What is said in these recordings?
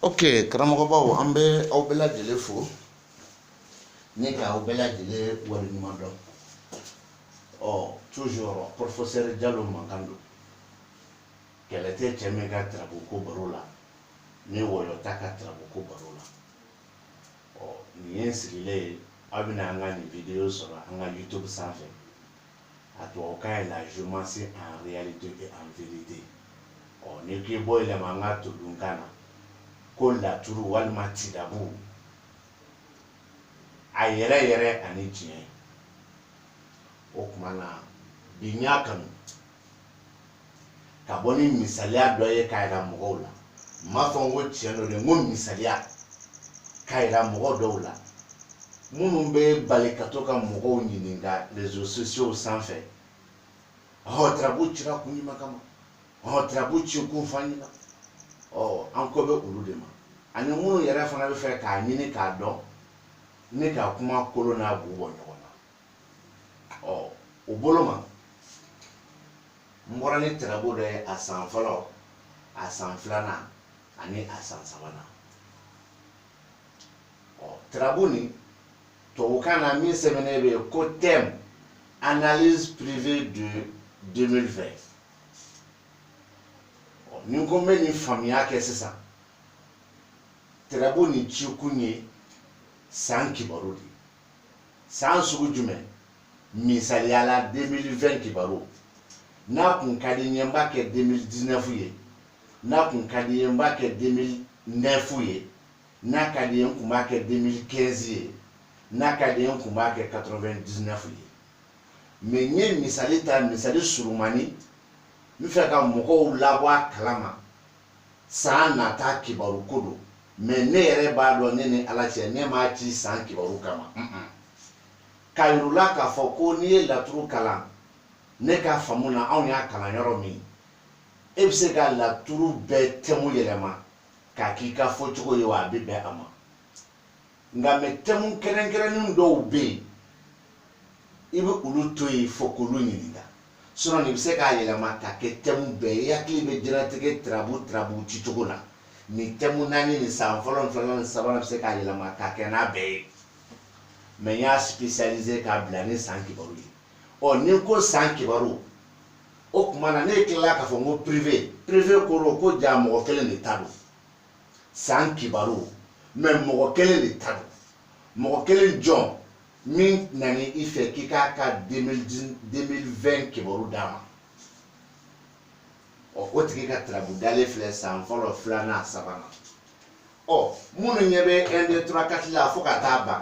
ok karamɔgɔbaw an bɛ aw bɛɛ lajɛlen fo ne ka aw bɛɛ lajɛlen waleɲuman dɔn ɔ toujours professeur jalo mankan don kɛlɛ tɛ cɛ min ka tarabu ko baro la ni wɔyɔ t'a ka tarabu ko baro la ɔ nin ye n sigilen ye aw bɛna an ka nin video sɔrɔ an ka youtube sanfɛ a tubabukan ye la géomancie en réalité et en vérité ɔ n'i k'i b'o yɛlɛma an ka todunkan na ko laturu walima tidabu a yɛrɛ yɛrɛ ani tiɲɛ o tuma na bi n y'a kanu ka bɔ ni misaliya dɔ ye k'a jira mɔgɔw la n m'a fɔ n ko tiɲɛ don dɛ n ko misaliya k'a jira mɔgɔ dɔw la minnu bɛ bali ka to ka mɔgɔw ɲininka réseaux sociaux sanfɛ ɔ tarabu cira kun jumɛn kama ɔ tarabu ci kun f'an ɲɛna ɔ an ko bɛ olu de ma ani minnu yɛrɛ fana bɛ fɛ k'a ɲini k'a dɔn ni ka kuma kolo n'a bu bɔ ɲɔgɔn na ɔ o bolo ma n bɔra ni tarabu dɔ ye a san fɔlɔ a san filanan ani a san sabanan ɔ tarabu nin tubabukan na min sɛbɛnnen bɛ yen ko thème analyse privée de 2020 ɔ ni n ko n bɛ nin faamuya kɛ sisan tarabu nin cikun ye san kibaru de ye san sugu jumɛn misaliya la 2020 kibaru n'a kun ka di n ye n b'a kɛ 2019 ye n'a kun ka di n ye n b'a kɛ 2009 ye n'a ka di n ye n kun b'a kɛ 2015 ye n'a ka di n ye n kun b'a kɛ 99 ye mais n ye misali ta misali surumani n fɛ ka mɔgɔw labɔ a kalama san nata kibaru ko don mais ne yɛrɛ b'a dɔn ne ni ala cɛ ne m'a ci san kibaru kama k'a yir'u la k'a fɔ ko n'i ye laturu kalan ne ka faamu na anw y'a kalan yɔrɔ min e bɛ se ka laturu bɛɛ thème yɛlɛma k'a k'i ka fɔcogo ye wa a bɛ bɛn a ma nka mais thème kɛrɛnkɛrɛnnin dɔw bɛ yen i bɛ olu to yen fo k'olu ɲininka sinon nin bɛ se k'a yɛlɛma ka kɛ thème bɛɛ ye i hakili bɛ diɲɛlatigɛ tirabu tirabu ci cogo la nin thème naani nin san fɔlɔ ni filanan ni sabanan bɛ se k'a yɛlɛma ka kɛ n'a bɛɛ ye mais n y'a spécialisé k'a bila ni san kibaru ye ɔ ni n ko san kibaru o tuma na ne tilala k'a fɔ n ko privé privé kɔrɔ ko ja mɔgɔ kelen de ta don san kibaru mais mɔgɔ kelen de ta don mɔgɔ kelen jɔn min nani i fɛ k'i k'a ka 2020 kibaru d'a ma ɔ o tigi ka tarabu dalen filɛ san fɔlɔ filanan sabanan ɔ minnu ɲɛ bɛ 1 2 3 4 la fo ka taa ban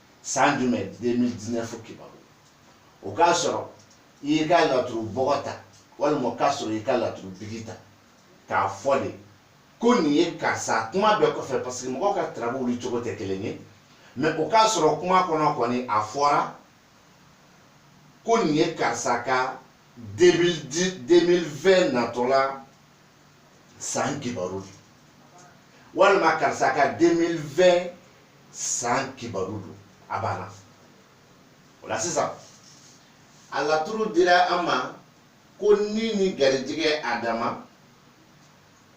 san jumɛn 2019 kibaru o k'a sɔrɔ i y'i ka laturu bɔgɔ ta walima o k'a sɔrɔ i y'i ka laturu bigi ta k'a fɔ de ko nin ye karisa kuma bɛɛ kɔfɛ parce que mɔgɔw ka tarabu wuli cogo tɛ kelen ye mais o k'a sɔrɔ kuma kɔnɔ kɔni a fɔra ko nin ye karisa ka 2020 natɔla san kibaru don walima karisa ka 2020 san kibaru don a banna o la sisan a laturu dira an ma ko ni ni garijigɛ adama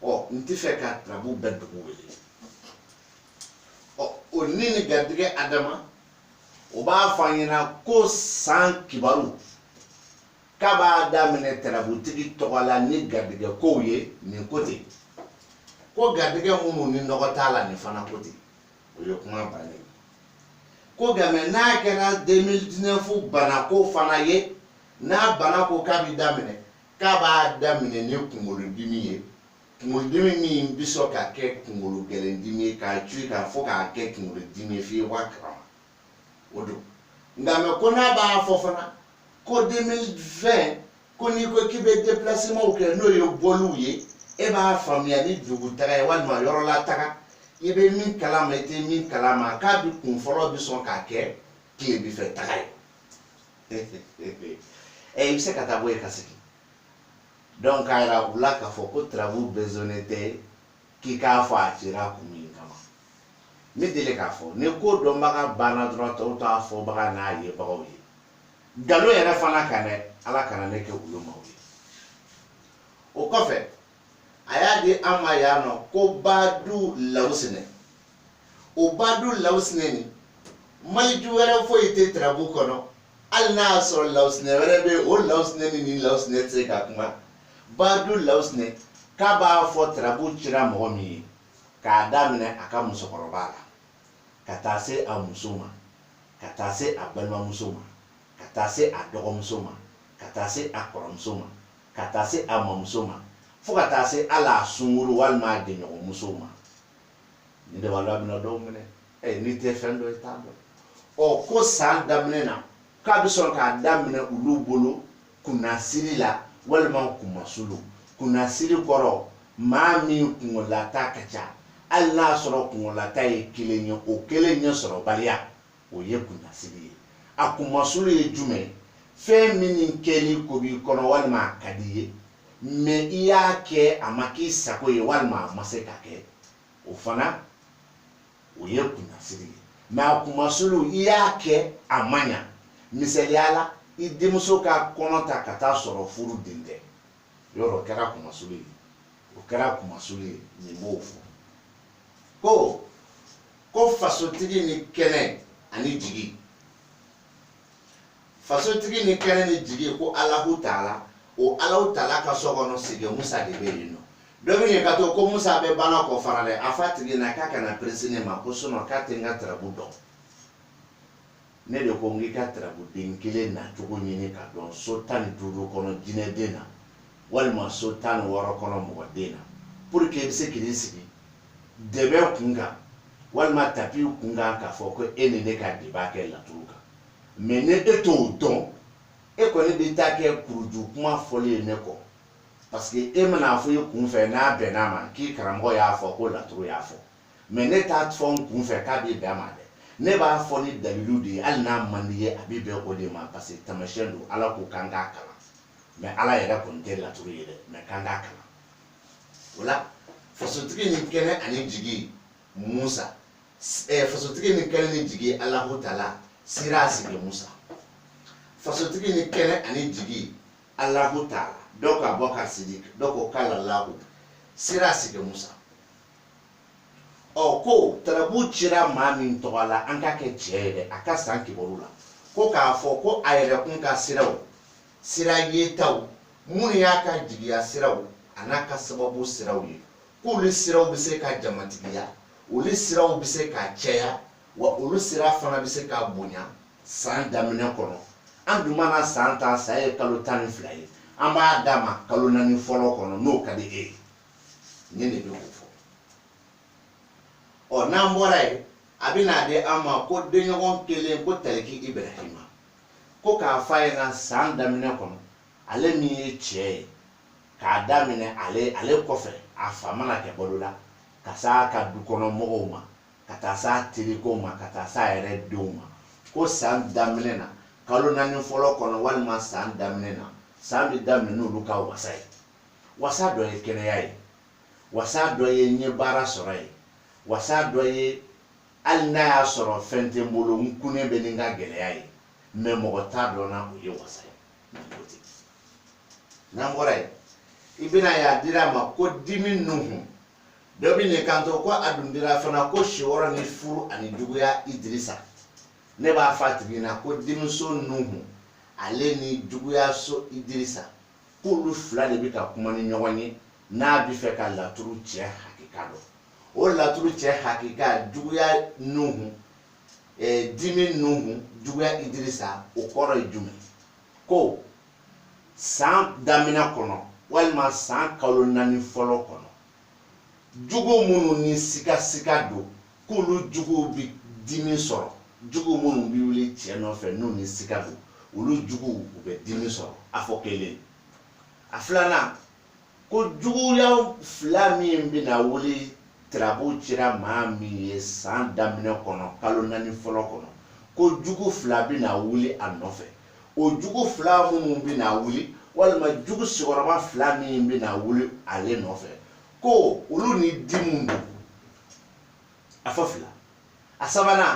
ɔ n tɛ fɛ ka tarabu bɛɛ dugu wele ɔ o ni ni garijigɛ adama o b'a fɔ an ɲɛna ko san kibaru k'a b'a daminɛ tarabutigi tɔgɔ la ni garijɛgɛ kow ye nin ko ten ko garijɛgɛ minnu ni nɔgɔ t'a la nin fana ko ten o ye kuma bannen ye ko nka mais n'a kɛra 2019 banako fana ye n'a bana ko k'a bɛ daminɛ k'a b'a daminɛ ni kunkolodimi ye kunkolodimi min bɛ sɔn ka kɛ kunkolo gɛlɛndimi ye k'a cui k'a fɔ k'a kɛ kunkolodimi ye f'i ye bɔ a kalama o don nka mais ko n'a b'a fɔ fana ko 2020 ko n'i ko k'i bɛ déplacements kɛ n'o ye bɔliw ye e b'a faamuya ni dugutaga ye walima yɔrɔlataga i bɛ min kalama i tɛ min kalama k'a bɛ kun fɔlɔ bɛ sɔn ka kɛ tilebifɛ taga ye ɛ i bɛ se ka taa bɔ yen ka segin donc a yira u la k'a fɔ ko tarabu besonnen tɛ k'i k'a fɔ a cira kun min kama ne deli k'a fɔ ni ko dɔnbaga banna dɔrɔn tɔw t'a fɔbaga n'a yebagaw ye nkalon yɛrɛ fana kan dɛ ala kana ne kɛ olu maaw ye o kɔfɛ a y'a di an ma yan nɔ ko badu lawusinɛ o badu lawusinɛ nin maliju wɛrɛ foyi tɛ tarabu kɔnɔ hali n'a y'a sɔrɔ lawusinɛ wɛrɛ bɛ yen o lawusinɛ ni nin lawusinɛ tɛ se ka kuma badu lawusinɛ k'a b'a fɔ tarabu cira mɔgɔ min ye k'a daminɛ a ka musokɔrɔba la ka taa se a muso ma ka taa se a balimamuso ma ka taa se a dɔgɔmuso ma ka taa se a kɔrɔmuso ma ka taa se a mamuso ma fo ka taa se hali a sunkuru walima a jɛɲɔgɔnmuso ma nin de b'a dɔn a bɛna dɔw minɛ ɛ n'i tɛ fɛn dɔ i t'a dɔn ɔ ko san daminɛ na k'a bɛ sɔrɔ k'a daminɛ olu bolo kunnasiri la walima kunmasulu kunnasiri kɔrɔ maa min kungolata ka ca hali n'a sɔrɔ kungolata ye kelen ye o kelen ɲɛ sɔrɔbaliya o ye kunnasiri ye a kunmasulu ye jumɛn fɛn minnu kɛli ko b'i kɔnɔ walima a ka di ye mɛ i y'a kɛ a ma k'i sago ye walima a ma se ka kɛ o fana o ye kunnasiri ye mɛ a kunmasulu i y'a kɛ a ma ɲa misaliya la i denmuso ka kɔnɔ ta ka taa sɔrɔ furu den tɛ yɔrɔ o kɛra kunmasulu ye o kɛra kunmasulu ye nin b'o fɔ ko ko fasotigi ni kɛnɛ ani jigi fasotigi ni kɛnɛ ni jigi ko alahu taala o alahu taala ka so kɔnɔ sigi musa de bɛ yen nɔ dɔ bɛ yen ka to ko musa bɛ bana kɔ fana dɛ a f'a tigi na k'a kana perese ne ma ko sinɔn k'a tɛ n ka tarabu dɔn ne de ko n k'i ka tarabuden kelen nacogo ɲini ka dɔn so tan ni duuru kɔnɔ jinɛden na walima so tan ni wɔɔrɔ kɔnɔ mɔgɔden na pour que i bɛ se k'i sigi dɛbɛ kun kan walima tapi kun kan k'a fɔ ko e ni ne ka débat kɛ laturu kan mɛ ni e t'o dɔn e kɔni bɛ taa kɛ kuruju kuma fɔli ye ne kɔ parce que e man'a fɔ i kun fɛ n'a bɛnn'a ma k'i karamɔgɔ y'a fɔ ko laturu y'a fɔ mɛ ne t'a fɔ n kun fɛ k'a bɛ bɛn a ma dɛ ne b'a fɔ ni dalilu de ye hali n'a man di ye a bɛ bɛn o de ma parce que tamasiyɛn don ala ko k'an k'a kalan mɛ ala yɛrɛ kɔni tɛ laturu ye dɛ mɛ k'an k'a kalan o la fasotigi ni kɛnɛ ani jigi musa eh, fasotigi ni kɛnɛ ni jigi alahu taala sira sigi musa fasotigi ni kɛnɛ ani jigi alahu taala dɔ ka bɔ ka sidi dɔ ko kala lahu sira sigi musa ɔ ko tarabu cira maa min tɔgɔ la an k'a kɛ cɛ ye dɛ a ka san kibaru la ko k'a fɔ ko a yɛrɛ kun ka siraw sira yetaw minnu y'a ka jigiya siraw an'a ka sababu siraw ye k'olu siraw bɛ se ka jamatigiya olu siraw bɛ se ka cɛya wa olu sira fana bɛ se ka bonya san daminɛ kɔnɔ an dun mana san ta san ye kalo tan ni fila ye an b'a d'a ma kalo naani fɔlɔ kɔnɔ n'o ka di e ye ne de bɛ o fɔ ɔ n'an bɔra yen a bɛ n'a di an ma ko denɲɔgɔn kelen ko tariki ibrahima ko k'a fɔ a ɲɛna san daminɛ kɔnɔ ale min ye cɛ ye k'a daminɛ ale kɔfɛ a fa mana kɛ balo la ka s'a ka dukɔnɔ mɔgɔw ma ka taa s'a terikow ma ka taa s'a yɛrɛ denw ma ko san daminɛ na kalo naani fɔlɔ kɔnɔ walima san daminɛ na san bɛ daminɛ n'olu ka wasa ye wasa dɔ ye kɛnɛya ye wasa dɔ ye n ye baara sɔrɔ ye wasa dɔ ye hali n'a y'a sɔrɔ fɛn tɛ n bolo n kunnen bɛ ni n ka gɛlɛya ye mɛ mɔgɔ t'a dɔn n na o ye wasa ye n'an bɔra yen i bɛna ye a dira a ma ko dimi nuhu dɔ bɛ n'i kanto ko a dun dira fana ko si wɔɔrɔ ni furu ani juguya idirisa ne b'a fɔ a tigi ɲɛna ko dimiso nuhu ale ni juguya so idirisa k'olu fila de bɛ ka kuma ni ɲɔgɔn ye n'a bɛ fɛ ka laturu cɛ hakika dɔn o laturu cɛ hakika juguya nuhu eh, dimi nuhu juguya idirisa o kɔrɔ ye jumɛn ko san damina kɔnɔ walima san kalo naani fɔlɔ kɔnɔ jugu minnu ni sikasika don k'olu juguw bi dimi sɔrɔ jugu minnu bi wuli cɛ nɔfɛ n'u ni sika don olu juguw u bɛ dimi sɔrɔ a fɔ kelen a filanan ko juguya fila min bɛna wuli tirabu cira maa min ye san daminɛ kɔnɔ kalo naani fɔlɔ kɔnɔ ko jugu fila bɛna wuli a nɔfɛ o jugu fila minnu bɛna wuli walima jugu sigiyɔrɔma fila min bɛna wuli ale nɔfɛ ko olu ni dimi don a fɔ fila a sabanan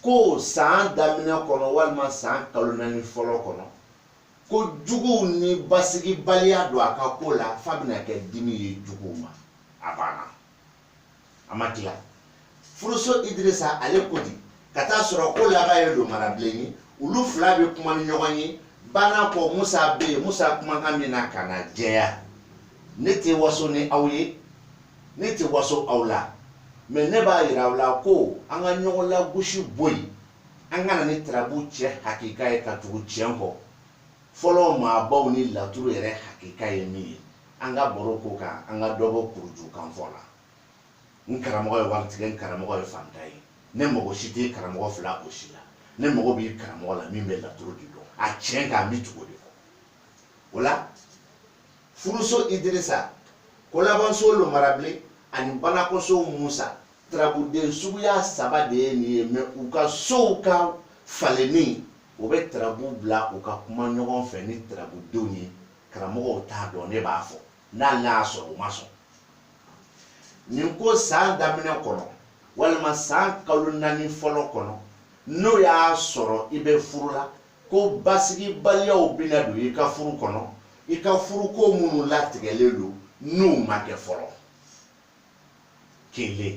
ko san daminɛ kɔnɔ walima san kalo naani fɔlɔ kɔnɔ ko juguw ni basigibaliya don a ka ko la f'a bɛna kɛ dimi ye juguw ma a banna a ma tila furuso idirisa ale ko di ka t'a sɔrɔ kolaban ye lomarabilen ye olu fila bɛ kuma ni ɲɔgɔn ye banakɔ musa bɛ yen musa kumakan min na ka na jɛya ne tɛ waso ni aw ye ne tɛ waso aw la mais ne b'a yira aw la ko an ka ɲɔgɔn lagosi bɔ yen an ka na ni tarabu cɛ hakika ye ka tugu tiɲɛ kɔ fɔlɔ maabaw ni laturu yɛrɛ hakika ye min ye an ka baro ko kan an ka dɔ bɔ kuruju kanfɔ la n karamɔgɔ ye waritigɛ n karamɔgɔ ye fanta ye ne mago si tɛ karamɔgɔ fila o si la ne mago bɛ karamɔgɔ la min bɛ laturu de dɔn a tiɲɛ kan n bɛ tugu o de kɔ o la furuso idirisa kolabanso lomarabilen ani banakɔso musa tarabuden suguya saba de ye nin ye mais u ka sow ka falenni o bɛ tarabu bila u ka kuma ɲɔgɔn fɛ ni tarabudenw ye karamɔgɔw t'a dɔn ne b'a fɔ n'ale y'a sɔrɔ u ma sɔn nin ko san daminɛ kɔnɔ walima san kalo naani fɔlɔ kɔnɔ n'o y'a sɔrɔ i bɛ furu la ko basigibaliyaw bɛna don i ka furu kɔnɔ i ka furuko minnu latigɛlen don n'u ma kɛ fɔlɔ kelen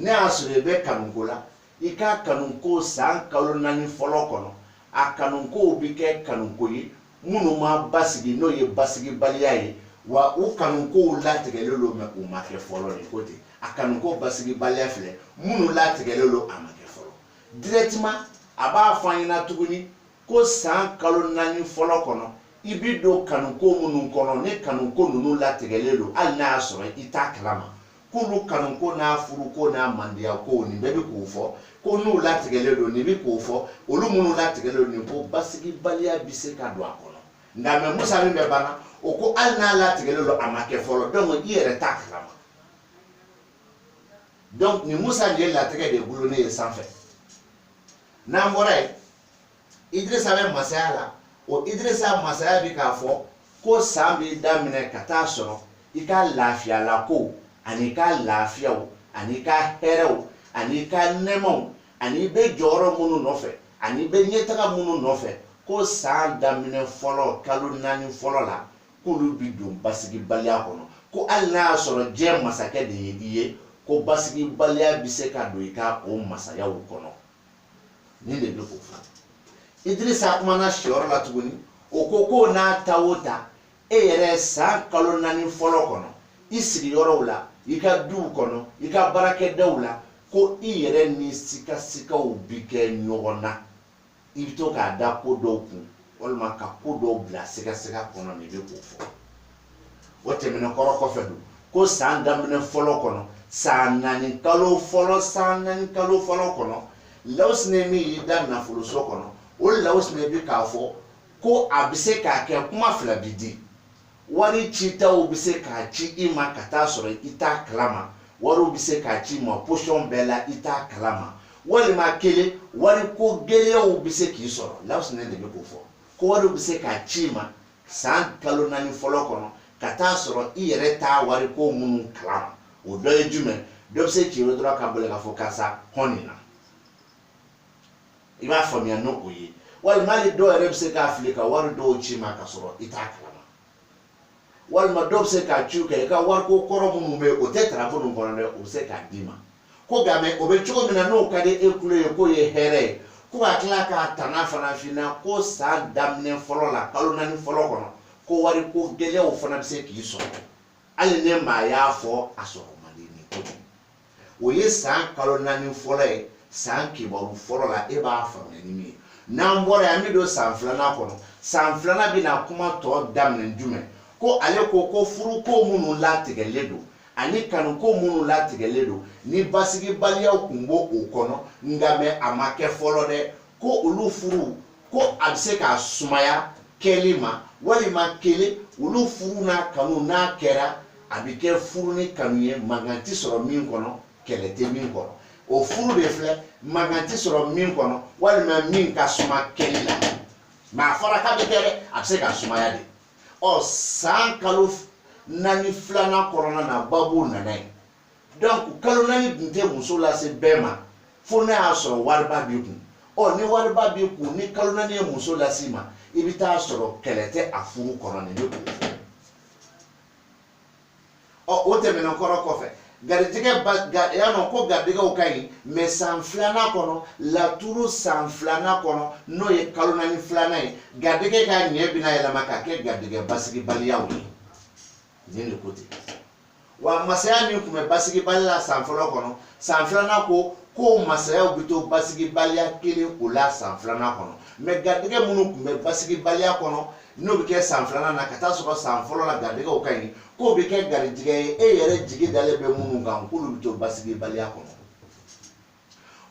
n'a y'a sɔrɔ i bɛ kanuko la i ka kanuko san kalo naani fɔlɔ kɔnɔ a kanukow bɛ kɛ kanuko ye minnu ma basigi n'o ye basigibaliya ye wa u kanukow latigɛlen don mais u ma kɛ fɔlɔ de ko ten a kanuko basigibaliya filɛ minnu latigɛlen don a ma kɛ fɔlɔ directement a b'a fɔ an ɲɛna tuguni ko san kalo naani fɔlɔ kɔnɔ i bi don kanuko minnu kɔnɔ ni kanuko ninnu latigɛlen don hali n'a y'a sɔrɔ i t'a kalama k'olu kanuko n'a furuko n'a mandiyakow nin bɛɛ bi k'o fɔ ko n'u latigɛlen don nin bi k'o fɔ olu minnu latigɛlen don nin ko basigibaliya bi se ka don a kɔnɔ nka mɛ musa min bɛ banna o ko hali n'a latigɛlen don a ma kɛ fɔlɔ dɔnku i yɛrɛ t'a kalama dɔnku nin musa nin ye latigɛ de dulonnen ye sanfɛ n'an bɔra yen idirisa bɛ masaya la o idirisa masaya bɛ k'a fɔ ko san bɛ daminɛ ka taa sɔrɔ i ka lafiyalakow ani i ka lafiyaw ani i ka hɛrɛw ani i ka nɛmaw ani i bɛ jɔyɔrɔ minnu nɔfɛ ani i bɛ ɲɛtaga minnu nɔfɛ ko san daminɛ fɔlɔ kalo naani fɔlɔ la k'olu bɛ don basigibaliya kɔnɔ ko hali n'a y'a sɔrɔ diɲɛ masakɛ de ye i ye ko basigibaliya bɛ se ka don i ka o masayaw kɔnɔ nin de bɛ k'o fɔ idirisa kumana siyɔrɔ la tuguni o ko ko n'a ta o ta e yɛrɛ san kalo naani fɔlɔ kɔnɔ i sigiyɔrɔw la i ka duw kɔnɔ i ka baarakɛdaw la ko i yɛrɛ ni sikasikaw bi kɛ ɲɔgɔn na i bɛ to k'a da ko dɔw kun walima ka ko dɔw bila sikasika kɔnɔ nin bɛ k'o fɔ o tɛmɛnen kɔrɔ kɔfɛ don ko san daminɛ fɔlɔ kɔnɔ san naani kalo fɔlɔ san naani kalo fɔlɔ kɔnɔ lawusine min y'i da nafoloso kɔnɔ o lawusine bi k'a fɔ ko a bɛ se ka kɛ kuma fila bi di wari citaw bɛ se ka ci i ma ka taa sɔrɔ i t'a kalama wariw bɛ se ka ci i ma posɔn bɛɛ la i t'a kalama walima kelen wariko gɛlɛyaw bɛ se k'i sɔrɔ lawusine de bɛ k'o fɔ ko wariw bɛ se ka ci i ma san kalo naani fɔlɔ kɔnɔ ka taa sɔrɔ i yɛrɛ t'a wari ko minnu kalama o dɔ ye jumɛn dɔ bɛ se k'i wele dɔrɔn ka boli k'a fɔ karisa hɔn nin na i b'a faamuya n'o ye walima hali dɔw yɛrɛ bɛ se ka fili ka wari dɔw ci i ma ka sɔrɔ i t'a kalama walima dɔw bɛ se ka ciw kɛ i ka wariko kɔrɔ minnu bɛ yen o tɛ tarako ninnu kɔnɔ dɛ o bɛ se k'a d'i ma ko nka mɛ o bɛ cogo min na n'o ka di e kulo ye k'o ye hɛrɛ ye ko ka tila k'a tana fana f'i ɲɛna ko san daminɛ fɔlɔ la kalo naani fɔlɔ kɔnɔ ko wari ko gɛlɛyaw fana bɛ se k'i sɔrɔ hali ne maa y'a fɔ a sɔrɔ man di nin ko o ye san kalo naani fɔlɔ ye san kibaru fɔlɔ la e b'a faamuya ni min ye n'an bɔra yan an bɛ don san filanan kɔnɔ san filanan bɛna kuma tɔ daminɛ jumɛn ko ale ko ko furuko minnu latigɛlen don ani kanuko minnu latigɛlen don ni basigibaliyaw tun b'o o kɔnɔ nka mɛ a ma kɛ fɔlɔ dɛ ko olu furu ko a bɛ se ka sumaya kɛli ma walima kelen olu furu n'a kanu n'a kɛra a bɛ kɛ furu ni kanu ye mankan tɛ sɔrɔ min kɔnɔ kɛlɛ tɛ min kɔnɔ o furu de filɛ mankan tɛ sɔrɔ min kɔnɔ walima min ka suma kɛli la mɛ a fɔra k'a bɛ kɛ dɛ a bɛ se ka sumaya de ɔ san kalo naani filanan kɔnɔna na babu nana ye donc kalo naani tun tɛ muso lase bɛɛ ma fo n'a y'a sɔrɔ wariba b'i kun ɔ ni wariba b'i kun ni kalo naani ye muso lase ma i bɛ t'a sɔrɔ kɛlɛ tɛ a furu kɔnɔ nin de k'o fɔ ɔ o tɛmɛnen kɔrɔ kɔfɛ garijɛgɛ ba ga y'a dɔn ko garijɛgɛw ka ɲi mɛ san filanan kɔnɔ laturu san filanan kɔnɔ n'o ye kalo naani filanan ye garijɛgɛ ka ɲɛ bɛna yɛlɛma ka kɛ garijɛgɛ basigibaliyaw ye nin de ko ten wa masaya min tun bɛ basigibali la san fɔlɔ kɔnɔ san filanan ko ko masayaw bɛ to basigibaliya kelen o la san filanan kɔnɔ mɛ garijɛgɛ minnu tun bɛ basigibaliya kɔnɔ n'o bɛ kɛ san filanan na ka t'a sɔrɔ san fɔlɔ la garijɛgɛw ka ɲi k'o bɛ kɛ garijɛgɛ ye e yɛrɛ jigi dalen bɛ minnu kan k'olu bɛ to basigibaliya kɔnɔ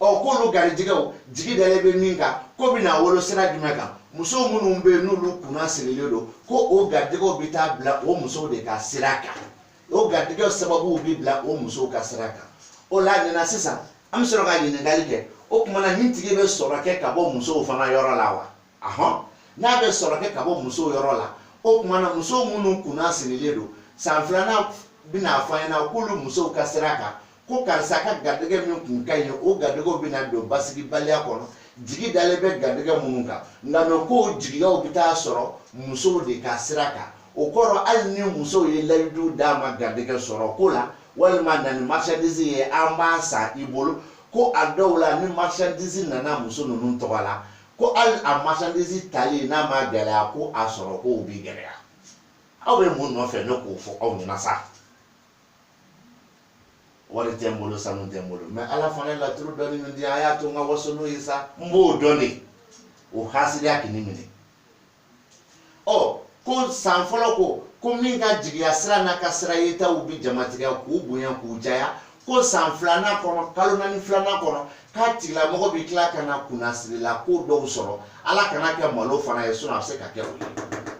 ɔ k'olu garijɛgɛw jigi dalen bɛ min kan k'o bɛna wolo sira jumɛn kan muso minnu bɛ yen n'olu kunna sirilen don ko o garijɛgɛw bɛ taa bila o musow de ka sira kan o garijɛgɛw sababuw bɛ bila o musow ka sira kan o la nin na sisan an bɛ sɔrɔ ka ɲininkali kɛ o tuma na nin tigi bɛ sɔrɔ kɛ ka bɔ musow fana yɔrɔ la wa ahɔn n'a bɛ sɔrɔ kɛ ka bɔ musow yɔrɔ la o tuma na muso minnu kunna sirilen don san filanan bɛna fɔ an ɲɛna k'olu musow ka sira kan ko karisa ka garijɛgɛ min kun ka ɲi o garijɛgɛw bɛna don basigibaliya kɔnɔ jigi dalen bɛ garijɛgɛ minnu kan nka mɛ k'o jigiyaw bɛ taa sɔrɔ musow de ka sira kan o kɔrɔ hali ni musow ye layidu d'a ma garijɛgɛ sɔrɔ ko la walima na ni marchandise ye an b'a san i bolo ko a dɔw la ni marchandise nana muso ninnu tɔgɔ la ko hali a marchandise tali n'a ma gɛlɛya ko a sɔrɔ ko o bi gɛlɛya aw bɛ mun nɔfɛ ne k'o fɔ aw ɲɛna sa wari tɛ n bolo sanu tɛ n bolo mɛ ala fana ye laturu dɔɔni min di an y'a to n ka waso n'o ye sa n b'o dɔn de o hasidiya k'i ni minɛ ɔ ko san fɔlɔ ko ko min ka jigiya sira n'a ka sira yetaw bi jamatigiya k'u bonya k'u jaya ko san filanan kɔnɔ kalo naani filanan kɔnɔ k'a tigilamɔgɔ bi tila ka na kunnasiri la ko dɔw sɔrɔ ala kana kɛ malo fana ye sinɔn a bɛ se ka kɛ o ye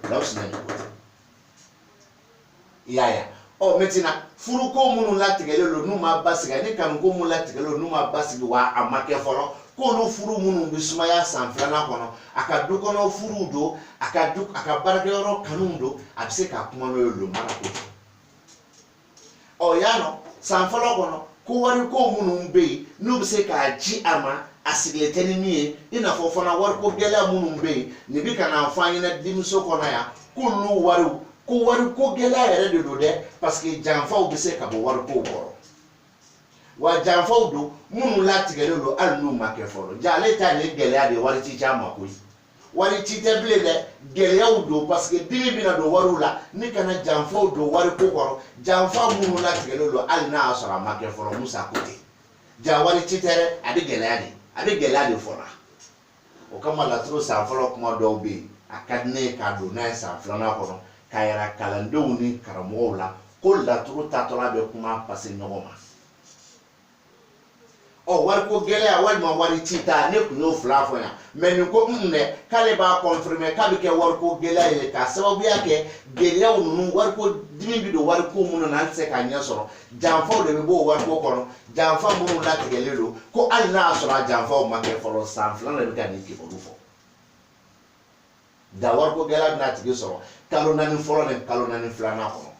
lawusinɛ i y'a ye ɔ maintenant furuko minnu latigɛlen don n'u ma basigi ani kanuko minnu latigɛlen don n'u ma basigi wa a ma kɛ fɔlɔ k'olu furu minnu bɛ sumaya san filanan kɔnɔ a ka du kɔnɔ furuw don a ka du a ka baarakɛyɔrɔ kanuw don a bɛ se ka kuma n'o ye lomara k'o fɔ o yan nɔ san fɔlɔ kɔnɔ ko wariko minnu bɛ yen n'u bɛ se ka ci a ma a sigilen tɛ ni min ye i n'a fɔ fana wariko gɛlɛya minnu bɛ yen nin bɛ ka na fɔ an ɲɛna dimiso kɔnɔ yan k'olu wariw ko wariko gɛlɛya yɛrɛ de don dɛ paseke janfaw bɛ se ka bɔ wariko kɔrɔ wa janfaw don minnu latigɛlen don hali n'u ma kɛ fɔlɔ ja ale ta nin ye gɛlɛya de ye wari ti ci a ma koyi wari ci tɛ bilen dɛ gɛlɛyaw don paseke dimi bɛna don wariw la ni ka na janfaw don wariko kɔrɔ janfa minnu latigɛlen don hali n'a y'a sɔrɔ a ma kɛ fɔlɔ musa ko ten ja wari ci tɛ dɛ a bɛ gɛlɛya de a bɛ gɛlɛya de fɔ la o kama laturu san fɔlɔ kuma dɔw bɛ yen a ka di ne ye ka don n'a ye san filanan kɔnɔ k'a yira kalandenw ni karamɔgɔw la ko laturu tatɔla bɛ kuma pase ɲɔgɔn ma ɔ wariko gɛlɛya walima wari ci ta ne tun y'o fila fɔ yan mɛ nin ko n dɛ k'ale b'a kɔnfirime k'a bɛ kɛ wariko gɛlɛya ye k'a sababuya kɛ gɛlɛyaw ninnu wariko dimi bɛ don wariko minnu na an tɛ se k'a ɲɛ sɔrɔ janfaw de bɛ b'o wariko kɔnɔ janfa minnu latigɛlen don ko hali n'a y'a sɔrɔ a janfaw ma kɛ fɔlɔ san filanan de bɛ ka nin kibaru fɔ nka wariko gɛlɛya bɛna a tigi sɔrɔ kalo naani fɔlɔ ni kalo naani filanan kɔnɔ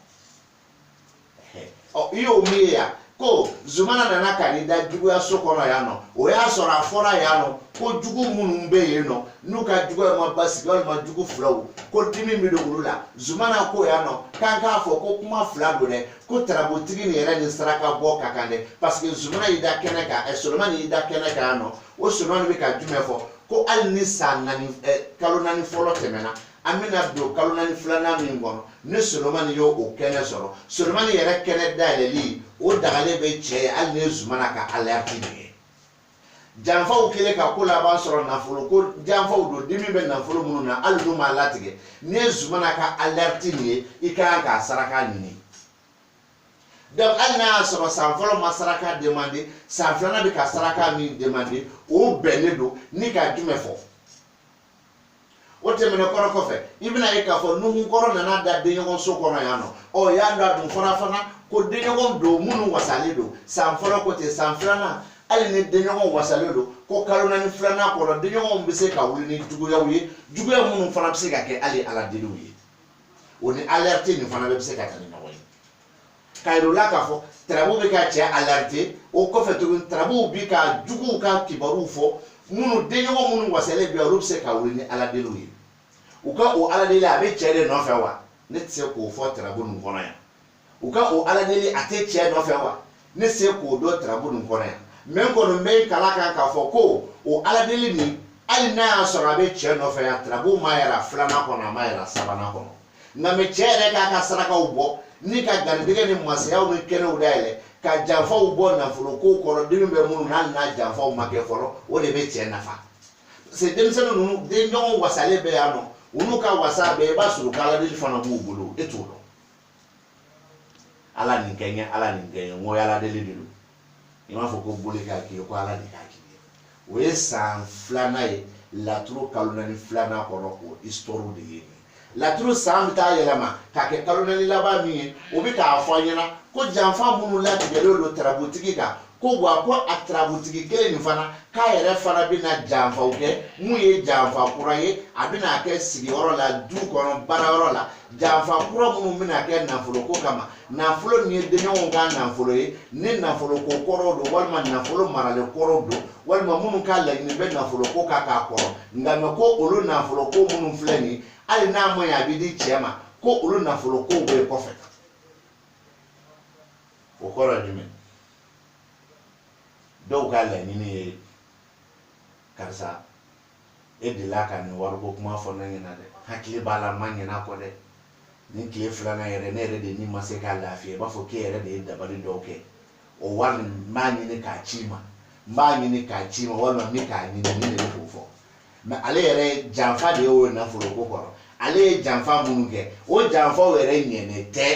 ɔ i y'o min ye yan ko zumana nana ka n'i da juguyaso kɔnɔ yan nɔ o y'a sɔrɔ a fɔra yan nɔ ko jugu minnu bɛ yen nɔ n'u ka juguya ma basigi walima jugu filaw ko dimi bɛ don olu la zumana ko yan nɔ k'an k'a fɔ ko kuma fila don dɛ ko tarabutigi nin yɛrɛ nin saraka bɔ ka kan dɛ parce que zumana y'i da kɛnɛ kan ɛ solomani y'i da kɛnɛ kan yan nɔ o solomani bɛ ka jumɛn fɔ ko hali ni san naani ɛ kalo naani fɔlɔ tɛmɛna an bɛna don kalo naani filanan min kɔnɔ ni solomani y'o o kɛnɛ sɔrɔ solomani yɛrɛ kɛnɛ dayɛlɛli o dagalen bɛ cɛ ye hali n'i ye zumana ka alɛriti nin ye janfaw kɛlen ka ko la a b'a sɔrɔ nafolo ko janfaw don dimi bɛ nafolo minnu na hali n'u ma latigɛ n'i ye zumana ka alɛriti nin ye i ka kan k'a saraka ɲini donc hali n'a y'a sɔrɔ san fɔlɔ ma saraka demande san filanan bɛ ka saraka min demande o bɛnnen don ni ka jumɛn fɔ o tɛmɛnen kɔrɔ kɔfɛ i bɛn'a ye k'a fɔ nuhun kɔrɔ nana da denɲɔgɔn so kɔnɔ yan nɔ ɔ y'a dɔn a dun fɔra fana ko denɲɔgɔn don minnu wasalen don san fɔlɔ ko ten san filanan hali ni denɲɔgɔn wasalen don ko kalo naani filanan kɔnɔ denɲɔgɔnw bɛ se ka wuli ni juguyaw ye juguya minnu fana bɛ se ka kɛ hali aladeliw ye o ni alɛriti nin fana bɛ se ka taa ni ɲɔgɔn ye k'a yir'u la k'a fɔ tarabu bɛ ka cɛ alɛriti o kɔfɛ tuguni tarabuw bi ka juguw ka kibaruw fɔ minnu denɲɔgɔn minnu wasalen bɛ olu bɛ se ka wuli ni aladeliw ye u ka o aladeli a bɛ cɛ de nɔfɛ wa ne tɛ se k'o fɔ tarabu nin kɔnɔ yan u ka o aladeli a tɛ cɛ nɔfɛ wa ne tɛ se k'o dɔn tarabu nin kɔnɔ yan mɛ n kɔni bɛ kala kan k'a fɔ ko o aladeli nin hali n'a y'a sɔrɔ a bɛ cɛ nɔfɛ yan tarabu m'a yira filanan kɔnɔ a m'a yira sabanan kɔnɔ nka mɛ cɛ yɛrɛ k'a ka sarakaw bɔ ni ka garijɛgɛ ni masayaw ni kɛnɛw dayɛlɛ ka janfaw bɔ nafolo ko kɔrɔ dimi bɛ minnu na hali n'a janfaw ma kɛ fɔlɔ o de bɛ cɛ nafa parce que denmisɛnnin ninnu denɲɔgɔnw wasalen bɛ yan nɔ olu ka wasa bɛɛ i b'a sɔrɔ k'ala deli fana b'u bolo e t'o dɔn ala nin kɛ n ye ala nin kɛ n ye n ko ala deli de don i m'a fɔ ko boli k'a k'i ye ko ala de k'a k'i ye o ye san filanan ye laturu kalo naani filanan kɔnɔ o histoire de ye nin laturu san bɛ taa yɛlɛma k'a kɛ kalo naani laban min ye o bɛ k'a fɔ an ɲɛna ko janfa minnu latigɛlen don tarabutigi kan ko wa ko a tarabutigi kelen nin fana k'a yɛrɛ fana bɛna janfaw kɛ min ye janfa kura ye a bɛna kɛ sigiyɔrɔ la du kɔnɔ baarayɔrɔ la janfa kura minnu bɛna kɛ nafoloko kama nafolo min ye denɲɔgɔnw ka nafolo ye ni nafolo ko kɔrɔw don walima nafolo maralen kɔrɔw don walima minnu ka laɲini bɛ nafolo ko kan ka kɔrɔ nka mɛ ko olu nafolo ko minnu filɛ nin hali n'a ma ɲɛ a bɛ di cɛ ma ko olu nafolo ko bɛ yen kɔfɛ o kɔrɔ ye jumɛn dɔw ka laɲini ye karisa e delila ka nin wariko kuma fɔ ne ɲɛna dɛ hakili b'a la ma ɲin'a kɔ dɛ nin tile filanan yɛrɛ ne yɛrɛ de ni ma se ka lafiya i b'a fɔ k'e yɛrɛ de ye dabali dɔw kɛ o wari nin n b'a ɲini k'a c'i ma n b'a ɲini k'a c'i ma walima n bɛ k'a ɲini nin de bɛ k'o fɔ mɛ ale yɛrɛ janfa de y'o nafolo ko kɔrɔ ale ye janfa minnu kɛ o janfaw yɛrɛ ɲɛnen tɛ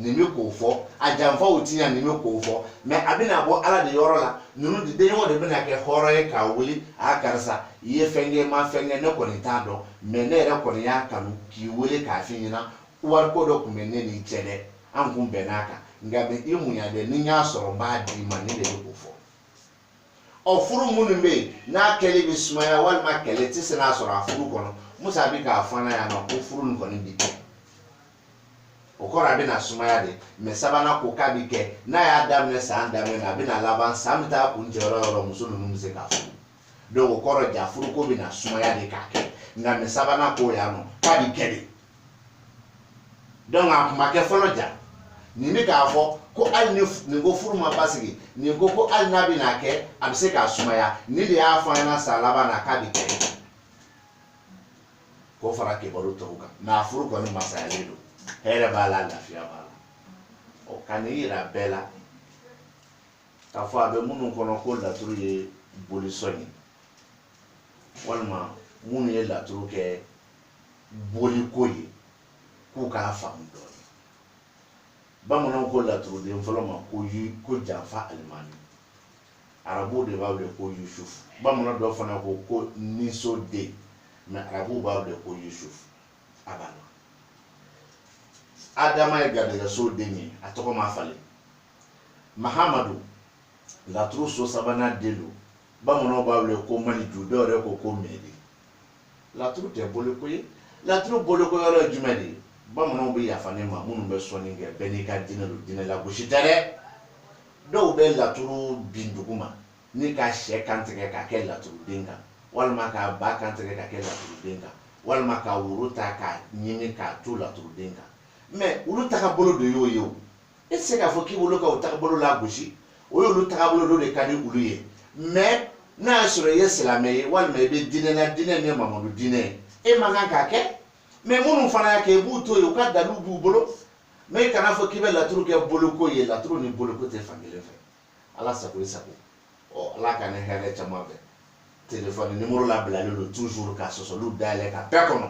nin bɛ k'o fɔ a janfaw ti ɲɛ nin bɛ k'o fɔ mɛ a bɛna bɔ ala de yɔrɔ la ninnu denɲɔgɔn de bɛna kɛ hɔrɔn ye k'a wuli a karisa i ye fɛn kɛ ma fɛn kɛ ne kɔni t'a dɔn mɛ ne yɛrɛ kɔni y'a kanu k'i wele k'a f'i ɲɛna wariko dɔ tun bɛ ne n'i cɛ dɛ an kun bɛnn'a kan nka mɛ i muɲu dɛ ni n y'a sɔrɔ n b'a d'i ma nin de bɛ k'o fɔ ɔ furu minnu bɛ yen n'a kɛli bɛ sumaya walima kɛlɛ tɛ se n'a sɔrɔ a furu kɔnɔ musa bɛ k'a fɔ an ɲɛna yan nɔ ko furu nin kɔni bi kɛ o kɔrɔ a bɛna sumaya de mɛ sabanan ko k'a bi kɛ n'a y'a daminɛ san daminɛ na a bɛna laban san bɛ taa kuncɛ yɔrɔ yɔrɔ muso ninnu bɛ se k'a furu donc o kɔrɔ ja furuko bɛna sumaya de k'a kɛ nka mɛ sabanan ko yan nɔ k'a bi kɛ de donc a kun ma kɛ fɔlɔ ja nin bɛ k'a fɔ ko hali ni nin ko furu ma basigi nin ko ko hali n'a bɛna kɛ a bɛ se k'a sumaya nin de y'a fɔ an ɲɛna san laban na k'a bi kɛ k'o fara kibaru tɔw kan mɛ a furu kɔni masayalen don hɛrɛ b'a la lafiya b'a la ɔ ka nin yira bɛɛ la k'a fɔ a bɛ minnu kɔnɔ ko laturu ye bolisɔn ye walima minnu ye laturu kɛ boliko ye k'u k'a faamu dɔɔnin bamananw ko laturuden fɔlɔ ma ko janfa alimami arabuw de b'a wele ko yusuf bamanan dɔ fana ko ko niso den mɛ arabuw b'a wele ko yusuf a b'a la adama ye garijɛgɛso den ye a tɔgɔ ma falen mahamadu laturu so sabanan den don bamananw b'a wele ko maniju dɔw yɛrɛ ko ko mɛdi laturu tɛ boliko ye laturu boliko yɔrɔ ye jumɛn de ye bamananw bɛ yafa ne ma minnu bɛ sɔnni kɛ bɛɛ n'i ka diinɛ don diinɛ lagosi tɛ dɛ dɔw bɛ laturu bin dugu ma ni ka sɛ kantigɛ ka kɛ laturuden kan walima ka ba kantigɛ ka kɛ laturuden kan walima ka woro ta ka ɲimi k'a to laturuden kan mɛ olu tagabolo de y'o ye o e tɛ se k'a fɔ k'i b'olu ka o tagabolo lagosi o y'olu tagabolo dɔ de ka di olu ye mɛ n'a y'a sɔrɔ i ye silamɛ ye walima i bɛ diinɛ na diinɛ min ye mamadu diinɛ ye e man kan k'a kɛ mɛ minnu fana y'a kɛ i b'u to yen u ka daliluw b'u bolo mɛ i kana fɔ k'i bɛ laturu kɛ boliko ye laturu ni boliko tɛ fankelen fɛ ala sago i sago ɔ ala k'an ni hɛrɛ caman bɛn telefɔni nimoro labilalen don toujours ka sɔsɔliw dayɛlɛ ka bɛɛ kɔnɔ